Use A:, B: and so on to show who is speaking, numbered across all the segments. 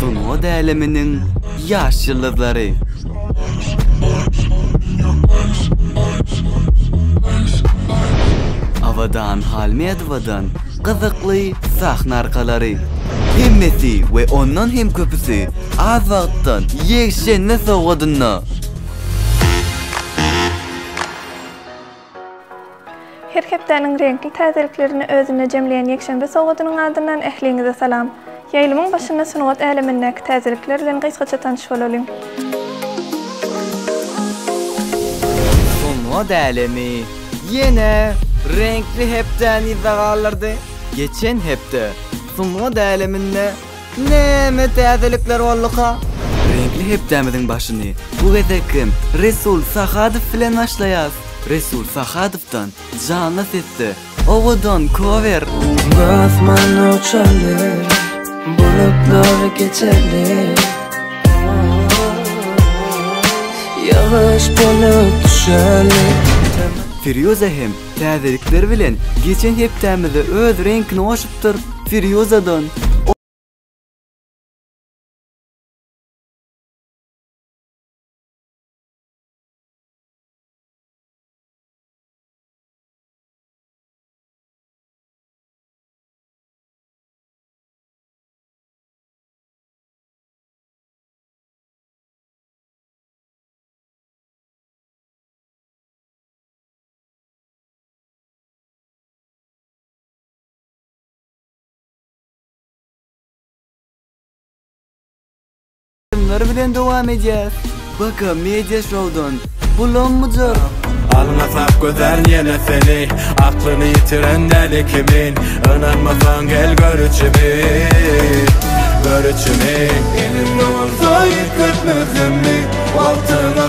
A: Sungat äleminiň ýaş ýyldyzlary. Abadan Halmedowadan gyzykly sahna arkalary. Hemmesi we ondan hem köpüsi az wagtdan ýekşenbe sowgadynda.
B: Her hepdäniň reňkli täzeliklerini özünde jemleýän ýekşenbe sowgadynyň adyndan ähliňize salam! Ýaýlymyň başynda sungat älemindäki täzelikler bilen gysgaça tanyş bolalyň.
A: Sungat älemi ýene reňkli hepdäni yza galdyrdy. Geçen hepde sungat äleminde Näme täzelikler bolduka? Reňkli hepdämiziň başyny bu gezek hem Resul Sahadow bilen başlaýas. Resul Sahadow-dan janly sesde Owadan kower! Asman
C: uçalyr, bulutlar geçelir Ýagyş bolup düşäli
A: Firýuza hem Täzelikler bilen geçen hepdämizde öz reňkini goşupdyr. Firýuzadan. Kimler bilen dowam edýär? Baka Media Show'dan. Bulanmyjak. Alňasap
D: gözel ýene seni Aklyny ýitiren däli kimin Ynanmasaň gel gör içimi Gör içimi Eliň bolsa ýitgetmezmi Wagtyň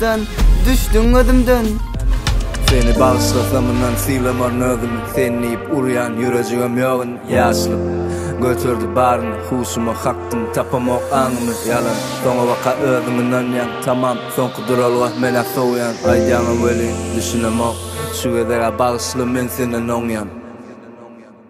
A: Sen düşdüň gözümden. Seni
C: bagyşlasam yndan sylamaryn özümi Sen diýip urýan ýürejigim ýok indi Ýaşlyk göterdi baryny Huşumy kakdym tapamok aňymy Ýalan soňa baka özüň ynanýaň Tamam soňky duralga men-ä sowýan Aýdýaňam welin düşünemok Şu gezeg-ä bagyşla men senden oňýan.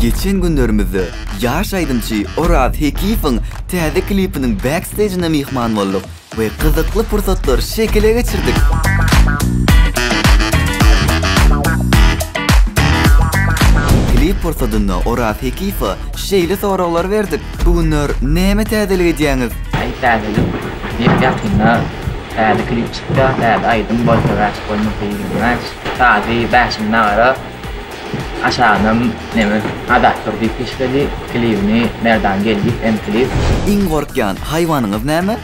A: Geçen günlerimizde ýaş aýdymçy Oraz Hekiýewiň täze klipiniň backstejine myhman bolduk we gyzykly pursatlary şekile geçirdik. Klip pursadynda Oraz Hekiýewe şeýle soraglar berdik, Bu günler näme täzelik edýäňiz? Aý täzelik,
E: ýep-ýakynda täze klip çykýar, täze aýdym bolsa wäşik bolmasa ýigrenmän. Tazy Bäşim nagara aşagynam neme adatdyr diýip geçmeli klibini Merdan Geldiýew M klip. Iň gorkýan
A: haýwanyňyz näme?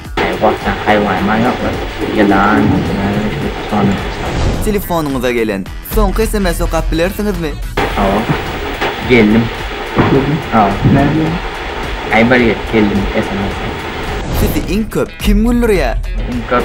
A: Gorkýan
E: haýwanyma ýoklar ýylan näme şu soňy salam. Telefonyňyza
A: gelen soňky sms okap bilersiňizmi? Hawa
E: geldim. Geldim. Hawa. Näme diýýär? Aý bir geldim sms. Sizi
A: iň köp kim güldürýär? Iň köp.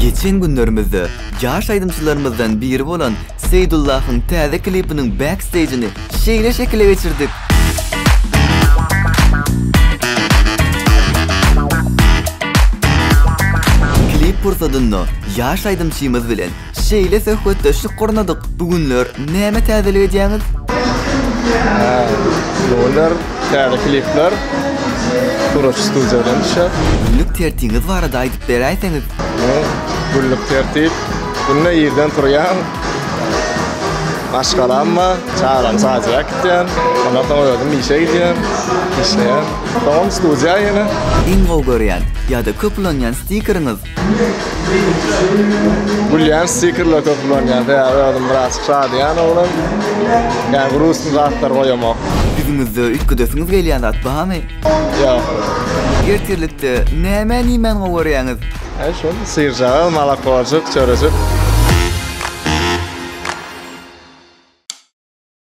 A: Geçen günlerimizde ýaş aýdymçylarymyzdan biri bolan Seýdullahyň täze klipiniň backstageini şeýle şekile geçirdik. Klip pursadynda ýaş aýdymçymyz bilen Şeýle söhbetdeşlik gurnadyk. Bu günler näme täzelik edýäňiz?
F: Bu günler täze klipler Guraç Studio bilen düşýär. Günlük tertiňiz
A: barada aýdyp beräýseňiz? Günlük
F: tertip, günde irden turýan. Maşgalam bar, çagany çaýjyga äkitýän. Ondan soň özüm işe gidýän, işleýän. Soňam studiýa ýene. Iň gowy görýän
A: ýa-da köp ulanýan stikeriňiz?
F: Gülýän stikerler köp ulanýan, sebäbi özüm biraz şadyýan oglan. Ýa gruzçy zatlar goýamok. Ýüzüňizde
A: üýtgedesiňiz gelýän zat barmy? Ýok.
F: Ertirlikde
A: nämän iýmän gowarýaňyz? Hä şol,
F: syryjagaz, molokojyk, çörejik.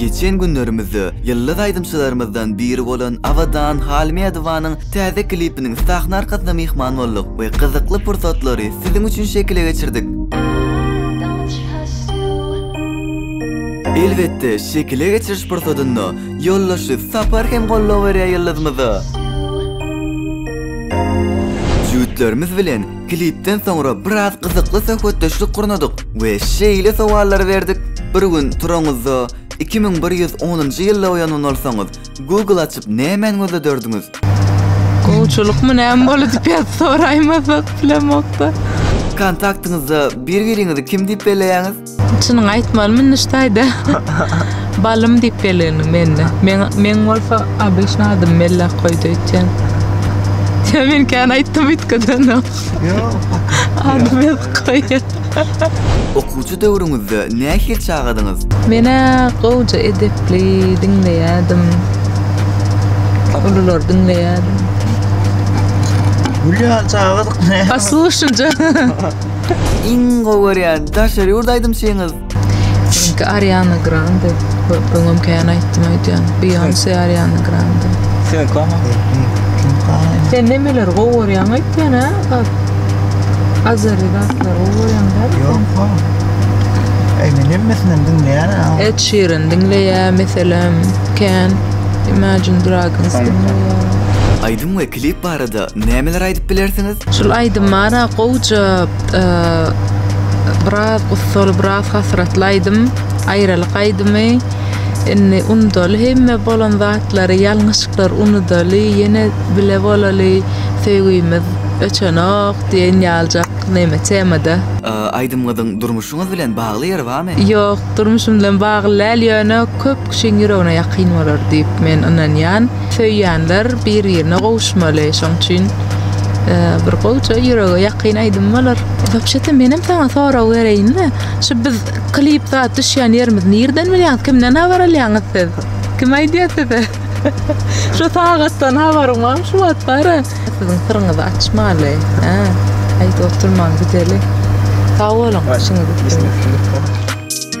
A: Geçen günlerimizde ýyldyz aýdymçylarymyzdan biri bolan Abadan Halmädowanyň täze klipiniň sahna arkasyna myhman bolduk we gyzykly pursatlary siziň üçin şekile geçirdik. Elbetde, şekile geçiriş pursadynda Ýoldaşy Sapar hem goldaw berýär ýyldyzymyza. Jübütlerimiz bilen klipden soňra biraz gyzykly söhbetdeşlik gurnadyk we şeýle sowallary berdik, Bir gün turaňyzda iki müň bir ýüz onunjy ýylda oýanman bolsaňyz, Google açyp nämäni gözlederdiňiz?
G: Gowçylykmy näme boldy diýip ýazyp soraýmasak bilemokda. Kontaktyňyzda
A: bir-biriňizi kim diýip belleýäňiz? Çynyňy aýtmalymy
G: Nuştaýda? Balym diýip bellendiň mende. Men men bolsa obýşna adymy Mellak goýdy öýtýän. Sen men kän aýtdym üýtgeden. Ady Mellak goýýan.
A: Okuwçy döwrüňizde nähili çagadyňyz? Men-ä
G: gowja edepli, diňleýärdim. Ululary diňleýärdim.
H: Gülýän çagadyk näme? Poslušnice.
A: Iň gowy görýän daşary ýurt aýdymçyňyz? Meniňki
G: Ariana Grande. Öňem kän aýtdym aýdýan. Beyoncé, Ariana Grande. Sen nemeleri gowy görýäň aýtýan hä? Azeri zatlary gowy görýäň
H: däl sen? Ed Sheeran
G: diňleýär meselem kän. Imagine Dragons diňleýär. Aýdym we
A: klip barada nämeler aýdyp bilersiňiz? Şul aýdym bara
G: gowja biraz ussaly biraz hasratly aýdym aýralyk aýdymy indi undaly hemme bolan zatlary ýalňyşyklar unudaly ýene bile bolaly söýgimiz öçenok diýen ýaljak neme temada. Aýdymňyzyň
A: durmuşyňyz bilen bagly ýeri barmy? Ýok durmuşym
G: bilen bagly däl ýöne köp kişiň ýüregine ýakyn bolar diýip men ynanýan. Söýýänler bir-birine gowuşmaly şoň üçin bir gowja ýürege ýakyn aýdym bolar. Wapşete menem saňa sorag bereýinle şu biz klip zat düşýän ýerimiz nirden bilýäňiz kimden habar alýaňyz siz kim aýdýa size şu sagatdan habaryň bar şu wagt bara siziň syryňyzy açmaly hä aýdyp oturmaň gideli sag boluň işiňiz üstünlik.